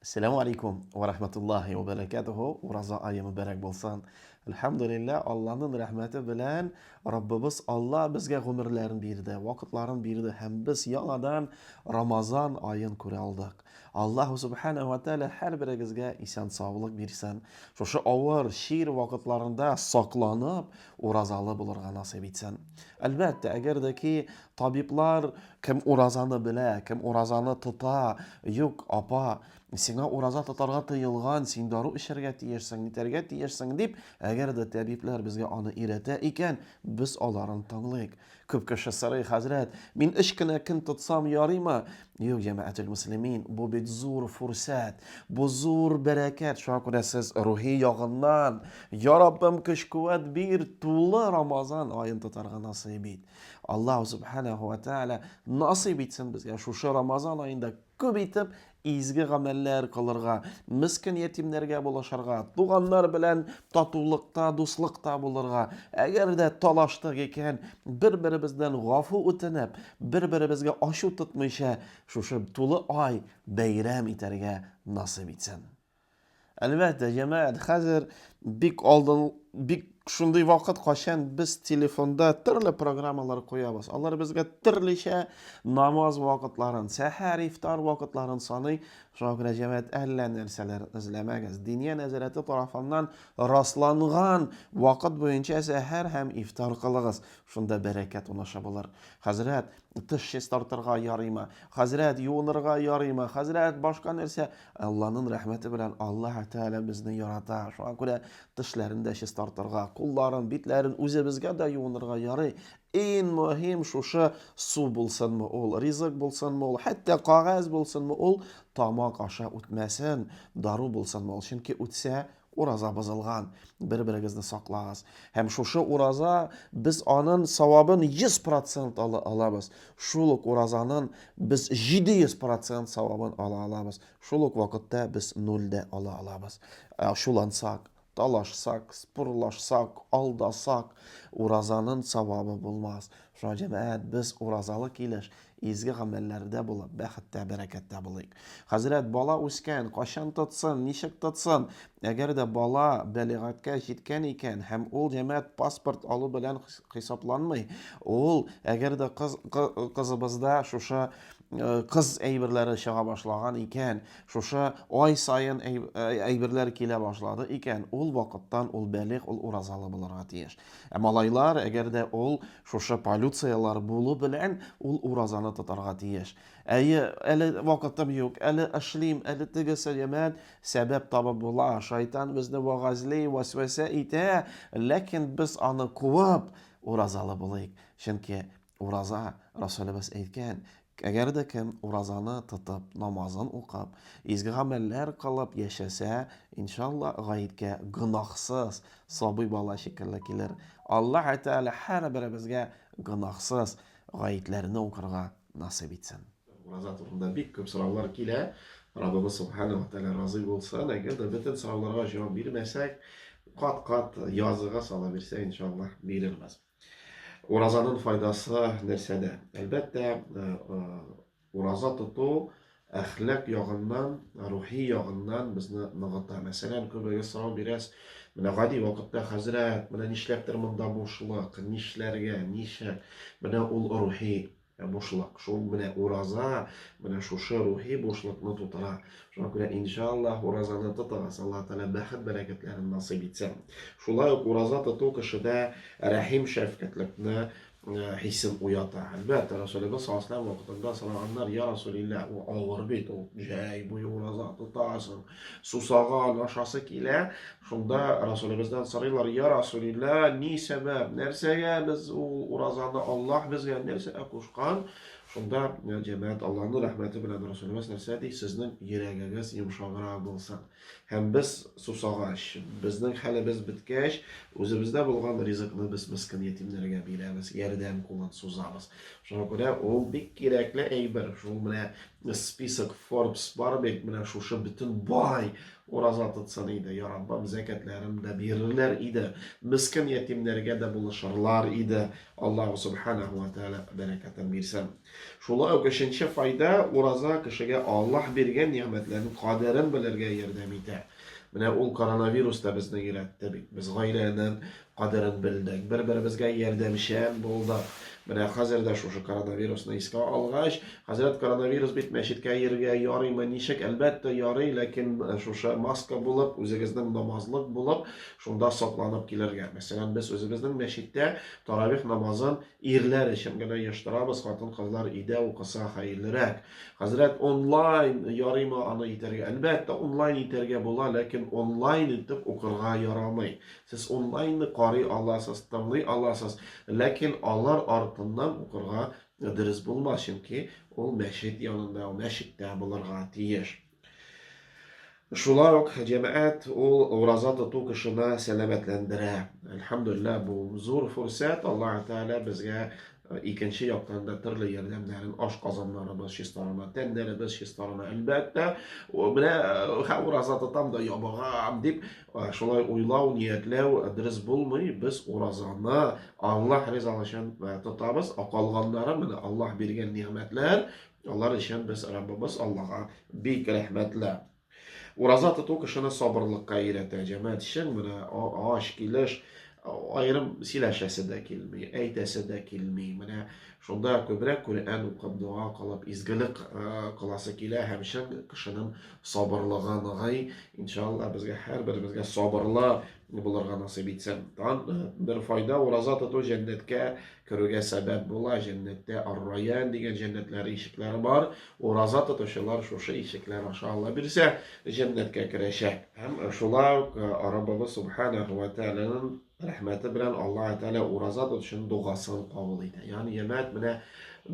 Ассаламу алейкум ва рахматуллахи ва баракатуху. Ураза айы мөбарәк булсын. Әлхәмдулиллаһ, Аллаһның рәхмәте белән Раббыбыз Алла безгә гомерләрен бирде, вакытларын бирде һәм без яңадан Рамазан аен күрә алдык. Аллаһу субхана ва тааля һәрберегезгә исән саулык бирсен. Шушы авыр, чир вакытларында сакланып, уразалы булырга насыйп итсен. Әлбәттә, әгәр дә ки табиблар кем уразаны белә, кем уразаны тота, юк, апа, сиңа ураза тотарга тыелган, син дару эчәргә тиешсең, нитәргә тиешсең дип, әгәр дә табиблар безгә аны өйрәтә икән, без аларын тыңлыйк. Күп кеше сорый, хәзрәт, мин өч кенә көн тотсам ярыймы? Юк, җәмәгател муслимин, бу бит зур фурсәт, бу зур бәрәкәт. Шуңа күрә сез рухи ягыннан, я Раббым, көч-куәт бир, тулы Рамазан аен тотарга насыйп ит. Аллаһу субханаху ва тааля насыйп итсен безгә шушы Рамазан аенда күп итеп Изге гамәлләр кылырга, мескен ятимнәргә булышырга, туганнар белән татулыкта, дуслыкта булырга, әгәр дә талаштык икән, бер-беребездән гафу үтенеп, бер-беребезгә ачу тотмыйча, шушы тулы ай бәйрәм итәргә насыйп итсен. Әлбәттә, җәмәгать, хәзер бик алдын, бик шундый вакыт, кайчан без телефонда төрле программалар куябыз. Алар безгә төрлечә намаз вакытларын, сәхәр, ифтар вакытларын саный. Шуңа күрә җәмәгать әллә нәрсәләр эзләмәгез. Диния нәзарәте тарафыннан расланган вакыт буенча сәхәр һәм ифтар кылыгыз. Шунда бәрәкәт унаша булыр. Хәзрәт, тыш чистартырга ярыймы? Хәзрәт, юынырга ярыймы? Хәзрәт, башка нәрсә? Алланын рәхмәте белән Аллаһ Тәгалә безне ярата. Шуңа күрә тешләрен дә чистартырга, кулларын, битләрен үзебезгә дә юынырга ярый. Иң мөһим шушы су булсынмы ул, ризык булсынмы ул, хәтта кагаз булсынмы ул, тамак аша үтмәсен, дару булсынмы ул. Чөнки үтсә, Ураза бозылган, бер-берегезне саклагыз. Һәм шушы ураза, без анын савабын 100 процент ала алабыз. Шул ук уразанын без 700 процент савабын ала алабыз. Шул ук вакытта без нуль дә ала алабыз. Ә ачулансак, талашсак, спорлашсак, алдасак, уразанын савабы булмас. Шуңа җәмәгать без уразалы килеш, изге гамәлләрдә булып, бәхеттә, бәрәкәттә булыйк. Хәзрәт, бала үскән, кайчан тотсын, ничек тотсын? Әгәр дә бала бәлигатькә җиткән икән һәм ул җәмәгать паспорт алу белән хисапланмый, ул, әгәр дә кыз, кызыбызда шушы кыз әйберләре чыга башлаган икән, шушы ай саен әйберләр килә башлады икән, ул вакыттан ул бәлигъ, ул уразалы булырга тиеш. Ә малайлар, әгәр дә ул шушы полюцияләр булу белән ул уразаны тотарга тиеш. Әйе, әле вакытым юк, әле эшлим, әле тегесе, ямән, сәбәп табып була, шайтан безне вагазли, вәсвәсә итә, ләкин без аны куып, уразалы булыйк. Чөнки Ураза, Расулебез әйткән, Әгәр дә кем уразаны тотып, намазын укып, изге гамәлләр кылып яшәсә, иншалла, гаеткә гөнаһсыз сабый бала шикелле килер. Аллаһ Тәгалә һәрберебезгә гөнаһсыз гаетләрне укырга насыйп итсен. Ураза турында бик күп сораулар килә. Раббыбыз Субхана ва Тәгалә разый булсын. Әгәр дә бөтен сорауларга җавап бирмәсәк, кат-кат языга сала бирсә, иншалла, бирербез. Уразаның файдасы нәрсәдә? Әлбәттә, э, э, ураза тоту әхлак ягыннан, рухи ягыннан безне ныгыта. Мәсәлән, күбегез сорау бирәс, менә гади вакытта хәзрәт, менә нишләптер монда бушлык, нишләргә, ничә? Менә ул рухи Ә бушлык, шул менә ураза, менә шушы рухи бушлыкны тутыра. Шуңа күрә, иншаллаһ, уразаны тотыгыз, Аллаһ Тәгалә бәхет бәрәкәтләрен насыйп итсен. Шулай ук ураза тоту кешедә рәхим шәфкатьлекне э, хисен уята. Әлбәттә, Расулебез саллаллаху вакытында сораганнар, я Расулилла, ул авыр бит, ул җәй буе ураза тотасың, сусаган, ашасы килә, Шунда Расулебездән сорыйлар, Я Расулилла, ни сәбәп, нәрсәгә без ул уразаны Аллаһ безгә нәрсә кушкан? Шунда җәмәгать Аллаһның рәхмәте белән Расулебез нәрсә ди, сезнең йөрәгегез йомшаграк булсын. Һәм без сусагач, безнең хәлебез беткәч, үзебездә булган ризыкны без мескин ятимнәргә бирәбез, ярдәм кулын сузабыз. Шуңа күрә ул бик кирәкле әйбер. Шул менә список Forbes бар бит, менә шушы бөтен бай ураза тотсын иде, я Раббым, зәкәтләрен дә бирерләр иде, мискин ятимнәргә дә булышырлар иде. Аллаһу субханаһу ва тааля бәрәкәтен бирсен. Шулай ук өченче файда, ураза кешегә Аллаһ биргән нигъмәтләрнең кадерен белергә ярдәм итә. Менә ул коронавирус та безне өйрәтте бит. Без гаиләнең кадерен белдек, бер-беребезгә ярдәмчән булдык. Менә хәзер дә шушы коронавирусны искә алгач, хәзрәт, коронавирус бит, мәчеткә йөрергә ярыймы, ничек? Әлбәттә, ярый, ләкин э, шушы маска булып, үзегезнең намазлык булып, шунда сакланып килергә. Мәсәлән, без үзебезнең мәчеттә таравих намазын Ирләр өчен генә ештырабыз, хатын-кызлар өйдә укыса хәерлерәк. Хәзрәт онлайн ярыймы аны итәргә? Әлбәттә, онлайн итәргә була, ләкин онлайн итеп укырга ярамый. Сез онлайнны карый аласыз, тыңлый аласыз, ләкин алар артыннан укырга дөрес булмас, чөнки ул мәчет янында, мәчеттә булырга тиеш. Шулай ук җәмәгать ул ураза тоту кешене сәламәтләндерә. Әлхәмдулилла, бу зур фурсәт. Аллаһ Тәгалә безгә э, икенче яктан да төрле ярдәмнәрен, аш казаннарыбыз чистарына, тәннәребез чистарына, әлбәттә, менә э, ураза тотам да ябыгам дип, э, шулай уйлау, ниятләү дөрес булмый. Без уразаны Аллаһ ризалыгы өчен тотабыз. Акалганнары менә Аллаһ биргән нигъмәтләр, Алар өчен без Раббыбыз Аллага бик рәхмәтле. Ураза тоту кешене сабырлыкка өйрәтә. Җәмәгать өчен менә ач килеш аерым сөйләшәсе дә килми, әйтәсе дә килми. Менә шунда күбрәк Коръән укып, дога кылып, изгелек кыласы килә һәм чын кешенең сабырлыгы ныгый. Иншалла безгә һәрберебезгә сабырлы булырга насыйп итсен. Тан бер файда ураза тоту җәннәткә Керүгә сәбәп була, җәннәттә Ар-Райян дигән җәннәтләр ишекләре бар. Ураза тотучылар шушы ишекләр аша Алла бирсә, җәннәткә керәчәк. Һәм шулай ук э, Раббыбыз Субханаху ва Тәгаләнең рәхмәте белән Аллаһ Тәгалә ураза тотучының дугасын кабул итә. Ягъни, җәмәгать, менә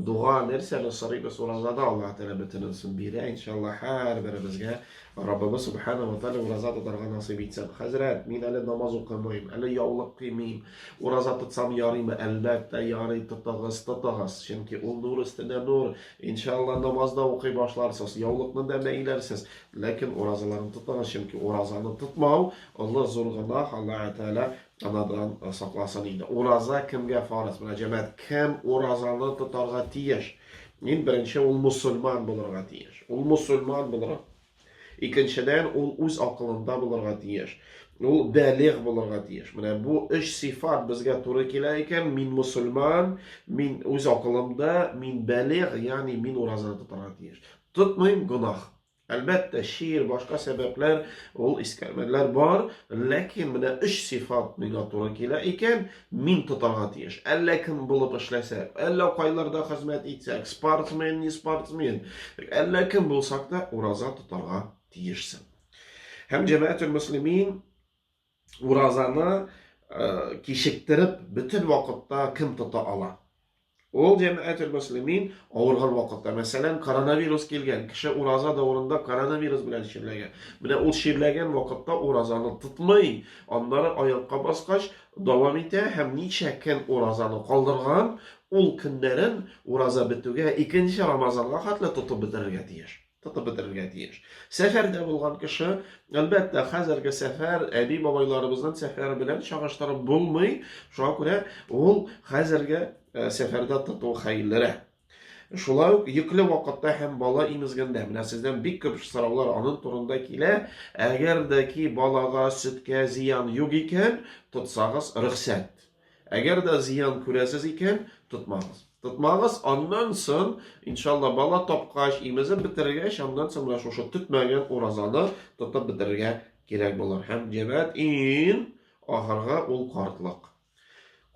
дуга нәрсәне сорыйбыз уразада Аллаһ Тәгалә бөтенесен бирә. Иншаллаһ, һәрберебезгә Раббыбыз Субханаху ва Тәгалә ураза тотарга насыйп итсен. Хәзрәт, мин әле намаз укымыйм, әле яулык кыймыйм, Ураза тотсам ярыймы? Әлбәттә, ярый, тотыгыз, тотыгыз. Чөнки ул нур өстенә нур. Иншаалла, намаз да укый башларсыз, яулыкны да бәйләрсез. Ләкин уразаларны тотыгыз, чөнки уразаны тотмау, олы, зур гөнаһ, Аллаһы Тәгалә анадан сакласын иде. Ураза кемгә фарыз? Менә, җәмәгать, кем уразаны тотарга тиеш? Иң беренче, ул мөселман булырга тиеш. Ул мөселман булырга Икенчедән, ул үз акылында булырга тиеш. Ул бәлигъ булырга тиеш. Менә бу өч сыйфат безгә туры килә икән, мин мусульман, мин үз акылымда, мин бәлигъ, ягъни мин уразаны тотарга тиеш. Тотмыйм, гөнаһ. Әлбәттә, шиир, башка сәбәпләр, ул искәрмәләр бар, ләкин менә өч сыйфат миңа туры килә икән, Мин тотарга тиеш. Әллә кем булып эшләсәк, әллә кайларда хезмәт итсәк, спортсмен, не спортсмен, әллә кем булсак та, ураза тотарга тиешсең. Һәм җәмәәтел мөслимин уразаны э, кичектереп бөтен вакытта кем тота ала? Ул җәмәгател мөслимин авырган вакытта, мәсәлән, коронавирус килгән, кеше ураза дәврында коронавирус белән чирләгән. Менә ул чирләгән вакытта уразаны тотмый, аннары аякка баскач дәвам итә һәм ничә көн уразаны калдырган, ул көннәрен ураза бетүгә, икенче Рамазанга хәтле тотып бетерергә тиеш. тотып бетерергә тиеш. Сәфәрдә булган кеше, әлбәттә, хәзерге сәфәр әби бабайларыбызның сәфәре белән чагыштырып булмый. Шуңа күрә ул хәзерге э, сәфәрдә тоту хәерлерәк. Шулай ук йөкле вакытта һәм бала имезгәндә менә сездән бик күп сораулар аның турында килә. Әгәр дә ки балага сөткә зыян юк икән, тотсагыз рөхсәт. Әгәр дә зыян күрәсез икән, тотмагыз. Тотмагыз, аннан сон, иншалла, бала тапкач, имезеп бетергәч, аннан сон менә шушы тотмаган уразаны тотып бетергә кирәк булыр. Һәм җәмәт ин ахырга ул картлык.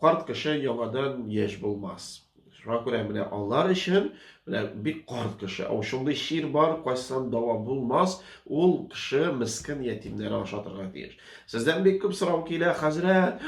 Карт кеше яңадан яшь булмас. Шуңа күрә менә алар өчен менә бик карт кеше. Ау шундый чир бар, кайсан дава булмас, ул кеше мискен ятимнәр ашатырга тиеш. Сездән бик күп сорау килә, хәзрәт,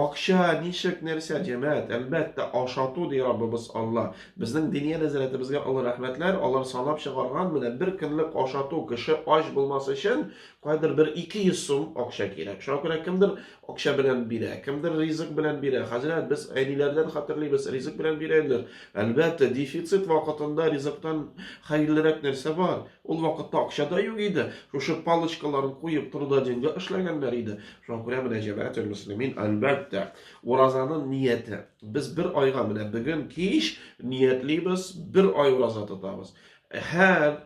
акча, ничек, нәрсә, җәмәт, әлбәттә, ашату ди Раббыбыз Алла. Безнең диния нәзәрәтебезгә олы рәхмәтләр, алар санап чыгарган менә бер көнлек ашату кеше ач булмас өчен кайдыр бер 200 сум акча кирәк. Шуңа күрә кемдер Акча белән бирә, кемдер ризык белән бирә. Хәзрәт, без әниләрдән хәтерлибез, ризык белән бирәләр. Әлбәттә, дефицит вакытында ризыктан хәерлерәк нәрсә бар? Ул вакытта акча да юк иде. Шушы палочкаларын куеп трудоденьга эшләгәннәр иде. Шуңа күрә менә җәмәгател мөслимин, әлбәттә, уразаның нияте. Без бер айга менә бүген кич ниятлибез, бер ай ураза тотабыз. Һәр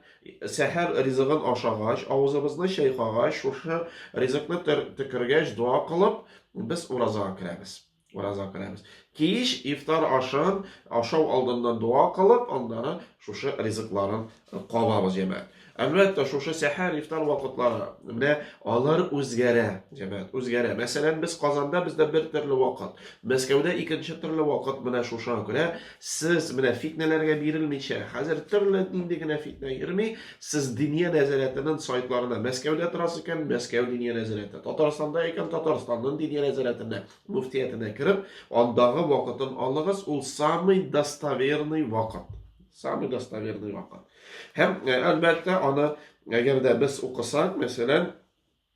сәхәр ризыгын ашагач, авызыбызны чайкагач, шушы ризыкны төкергәч, дога кылып, без уразага керәбез. Уразага керәбез. Кич ифтар ашын ашау алдыннан дога кылып, аннары шушы ризыкларын кабабыз, җәмәгать. Әлбәттә, шушы сәхәр, ифтар вакытлары, менә алар үзгәрә, җәмәгать, үзгәрә. Мәсәлән, без Казанда бездә бер төрле вакыт, Мәскәүдә икенче төрле вакыт менә шушыга күрә Сез менә фитнәләргә бирелмичә, хәзер төрле нинди генә фитнә йөрми, сез Диния нәзарәтенең сайтларына Мәскәүдә торасы икән, Мәскәү Диния нәзарәте, Татарстанда икән, Татарстанның Диния нәзарәтенә, мөфтиятенә кереп, андагы вакытын алыгыз, ул самый достоверный вакыт. Самый достоверный вакыт. Һәм, әлбәттә, аны әгәр дә без укысак, мәсәлән,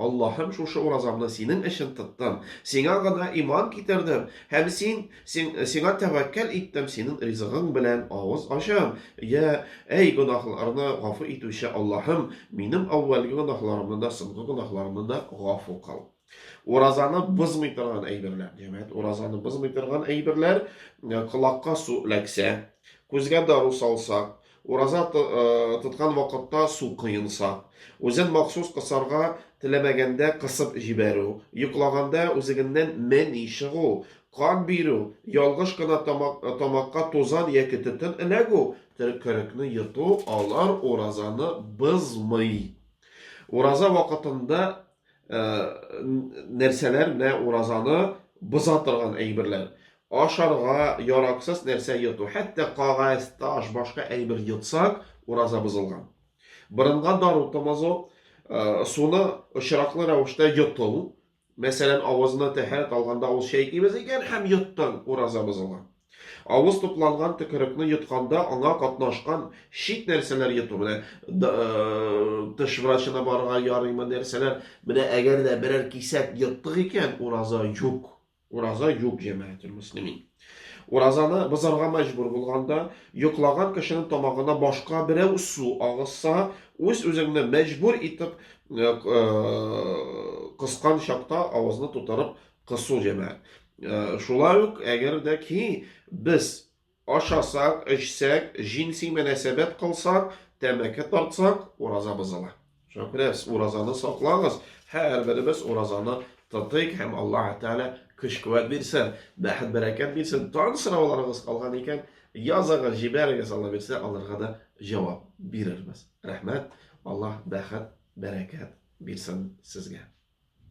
Аллаһым, шушы уразамны Синең өчен тоттым, Сиңа гына иман китердем һәм Син, син, Сиңа тәвәккәл иттем, Синең ризыгың белән авыз ачам. Йә, әй, гөнаһларны гафу итүче Аллаһым, минем әүвәлге гөнаһларымны да, соңгы гөнаһларымны да гафу кыл. Уразаны бозмый торган әйберләр, димәк, уразаны бозмый торган әйберләр, колакка су эләксә, күзгә дару салсак, Ураза тоткан вакытта су коенса. Үзен махсус кысарга теләмәгәндә кысып җибәрү, йоклаганда үзегеннән мени чыгу, кан бирү, ялгыш кына тамакка тузан яки төтен эләгү, төкерекне йоту, алар уразаны бозмый. Ураза вакытында нәрсәләр менә уразаны боза торган әйберләр ашарга яраксыз нәрсә йоту хәтта кагаз таш башка әйбер йотсак ураза бозылган борынга дару томазу э, суны очраклы рәвештә йоту мәсәлән авызына тәһарәт алганда ул чәйкибез икән һәм йоттың ураза бозылган Авыз тупланган төкерекне йотканда аңа катнашкан чит нәрсәләр йоту менә тыш врачына барырга ярыймы нәрсәләр менә әгәр дә берәр кисәк йоттык икән ураза юк ураза юк җәмәгател мөслимин уразаны бозарга мәҗбүр булганда йоклаган кешенең тамагына башка берәү су агызса үз үзеңне мәҗбүр итеп кыскан чакта авызны тутырып Кысу җәмәгать. Э, шулай ук, әгәр дә ки без ашасак, эчсәк, җинси мөнәсәбәт кылсак, тәмәке тартсак, ураза бозыла. Шуңа күрә уразаны саклагыз, һәрберебез уразаны тотыйк һәм Аллаһ Тәгалә көч-куәт бирсен, бәхет бәрәкәт бирсен. Тан сорауларыгыз калган икән, языгыз, җибәрегез, Алла бирсә, аларга да җавап бирербез. Рәхмәт. Аллаһ бәхет, бәрәкәт бирсен сезгә.